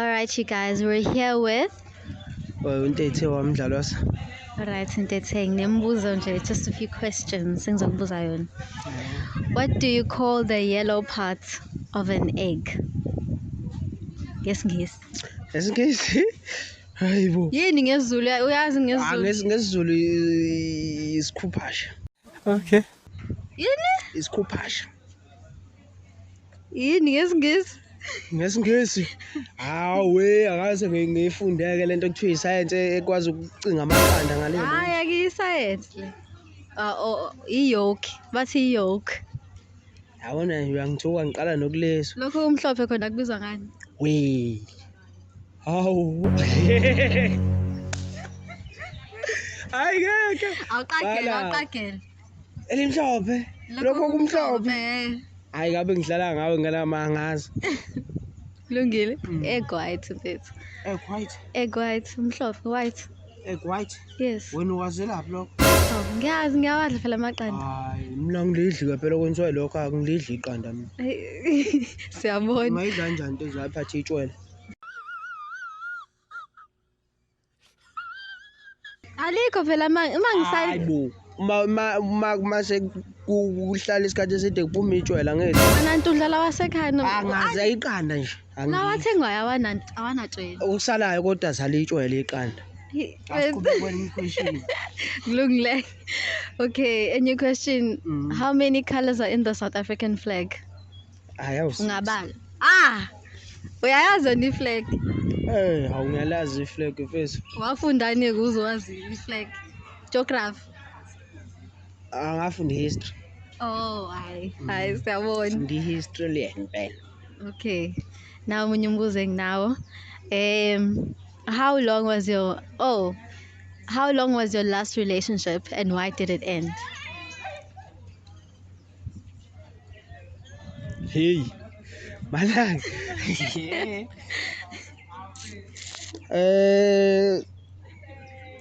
All right, you guys, we're here with. Well, Ntethe wamdlalo wasa. All right, Ntethe, nginembuzo nje, just a few questions engizokubuza yona. What do you call the yellow part of an egg? NgesiNgisi. NgesiNgisi? Hayibo. Yini ngesiZulu? Uyazi ah, ngesiZulu? Ah, ngesiZulu isikhuphasha. Okay. Yini? Isikhuphasha. yini ngesingisi ngesingisi hawe akaze ngiyifundeke lento kuthiwa isayense ekwazi ukucinga amaqanda ngale hayi akiyisayense le ah, oh, oh, iyoke bathi iyoke yabona nje uyangithuka ngiqala nokuleso lokho umhlophe khona kubizwa ngani we hawu hayi ngeke awuqagele awuqagele elimhlophe lokho kumhlophe hayi ngabe ngidlala ngawe nganama angazi kulungile mm. egg white mfethu egg white egg white mhlophe white egg white yes wena uwazelaphi lokho oh, ngiyazi ngiyawadla phela amaqanda hayi mina ngilidli kaphela kwenziwa lokho angilidli iqanda mina siyabona mayidla njani into zakhe athe itshwele Alikho phela ma uma ngisali Hayibo. Uma uma uma mase kuhlala isikhathi eside kuphuma itshwela ngeke. nantu udlala wasekhaya no. Angaze ayiqanda nje. Angi- Nawathengwayo awanantu awanatshela. Okusalayo kodwa sale itshwela iqanda. Kulungile. Okay, a new question. Mm. How many colors are in the South African flag? hayi awusi ungabala ah uyayazi wena iflag eh hawu ngiyalazi iflag mfethu wafundani kuzo wazi iflag geography angafunda history oh hayi hayi mm. siyabona ndi history le ngempela okay nawo omunye umbuzo enginawo um how long was your oh how long was your last relationship and why did it end Hey. Malang. Eh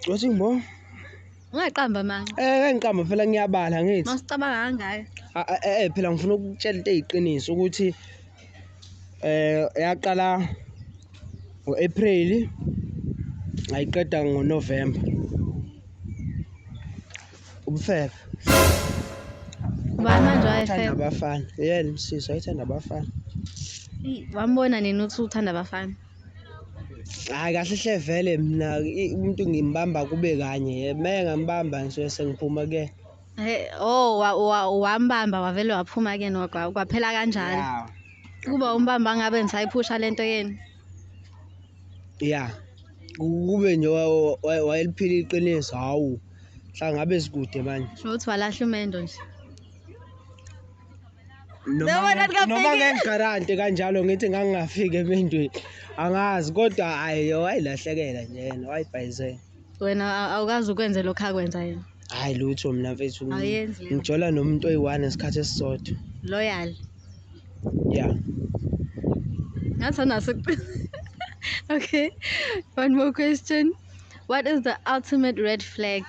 Wathi mbo? Ungaqamba mama. Eh kangiqamba phela ngiyabala ngithi. Masicabanga ngayo. Ah, ah, eh, eh phela ngifuna ukutshela into eyiqiniso ukuthi eh yaqala ngoApril ayiqeda ngoNovember. Ubufebe. Ubani manje wayefebe? Uthanda abafana. Yena msisi wayethanda abafana. Wambona nini uthi uthanda abafana? Hayi kahle hle vele mina umuntu ngimbamba kube kanye. Uma engambamba ngisuke sengiphuma ke. Hey, oh wambamba wavele waphuma ke nokwa kwaphela kanjalo. Kuba umbamba ngabe ngisayiphusha lento yenu. Yeah. Kube nje wayeliphila iqiniso hawu. Cha ngabe sikude manje. Sho ukuthi walahla umendo nje. Noma noma ngengigarante kanjalo ngithi ngangingafiki emendweni. Angazi kodwa ayo wayilahlekela nje yena wayibhayizela. Wena awukazi ukwenze lokho akwenza yena. Hayi lutho mina mfethu. Ayenzi. Ngijola nomuntu oyi-one ngesikhathi esisodwa. Loyal. Yeah. Ngathi anaso. Okay. One more question. What is the ultimate red flag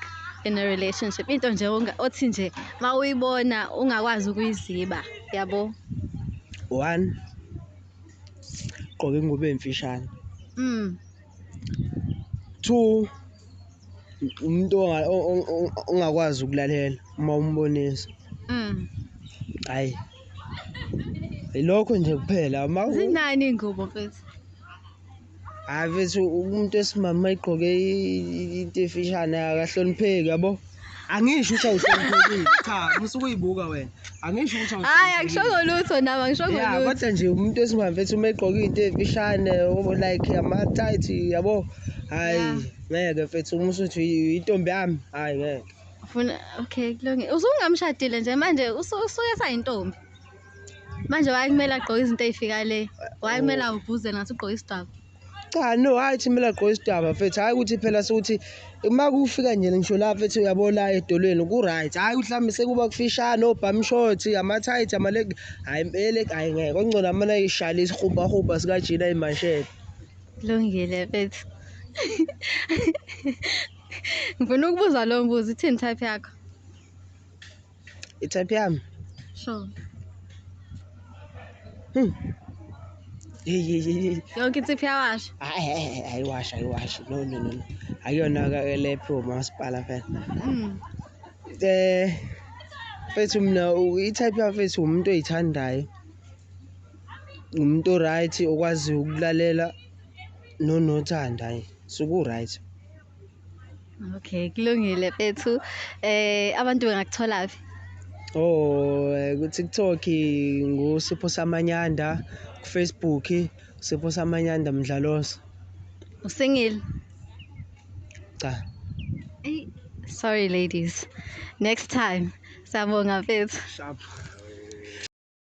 in a relationship? Into nje othi nje ma uyibona ungakwazi ukuyiziba, yabo? One gqoka ingubo emfishane. Mm. Two umuntu ongakwazi ukulalela uma umbonisa. Mm. Hayi. Ilokho nje kuphela. Zinani ingubo mfethu? hayi mfethu umuntu esimama igqoke into efishane akahlonipheki yabo angisho ukuthi awuhloniphekile cha musuke uyibuka wena angisho ukuthi hayi angishongo lutho nami angishongo lutho ya kodwa nje umuntu esimama mfethu uma egqoke into efishane like ama tight yabo hayi ngeke mfethu uma usuthi intombi yami hayi ngeke ufuna okay kulungile usungamshadile nje manje usuke sayintombi manje wayekumele agqoke izinto ey'fika le wayekumele oh. awuvuze ngathi ugqoke isidwaba cha no hhayi thi kumele agqoke isidwaba mfethu hhayi ukuthi phela sokuthi uma kufika nje ngisho la mfethu uyabona edolweni ku-right hhayi mhlawumbe sekuba kufishane obhamshoti amathayithi amalegi hhayi mpele hhayi ngeke kongcono amane ayishale isihubhahubha sikajina imanshele kulungile mfethu ngifuna ukubuza lowo mbuzo ithini type yakho Itype yami. Sure. Hmm. Hey hey hey. Yonke insipho yawasha. Hayi hayi ayiwasha ayiwasha. No no no. Ayona ka lephi umasipala phela. Mm. Eh mfethu mina i-type yami mfethu umuntu oyithandayo. Umuntu right okwazi ukulalela nonothanda nje. Suku right. Okay, kulungile bethu. Eh abantu bengakuthola phi? Oh, eh, ku TikTok ngu Sipho Samanyanda, ku Facebook Sipho Samanyanda Mdlalosi. Usingile? Cha. Hey, sorry ladies. Next time. Siyabonga mfethu. Sharp.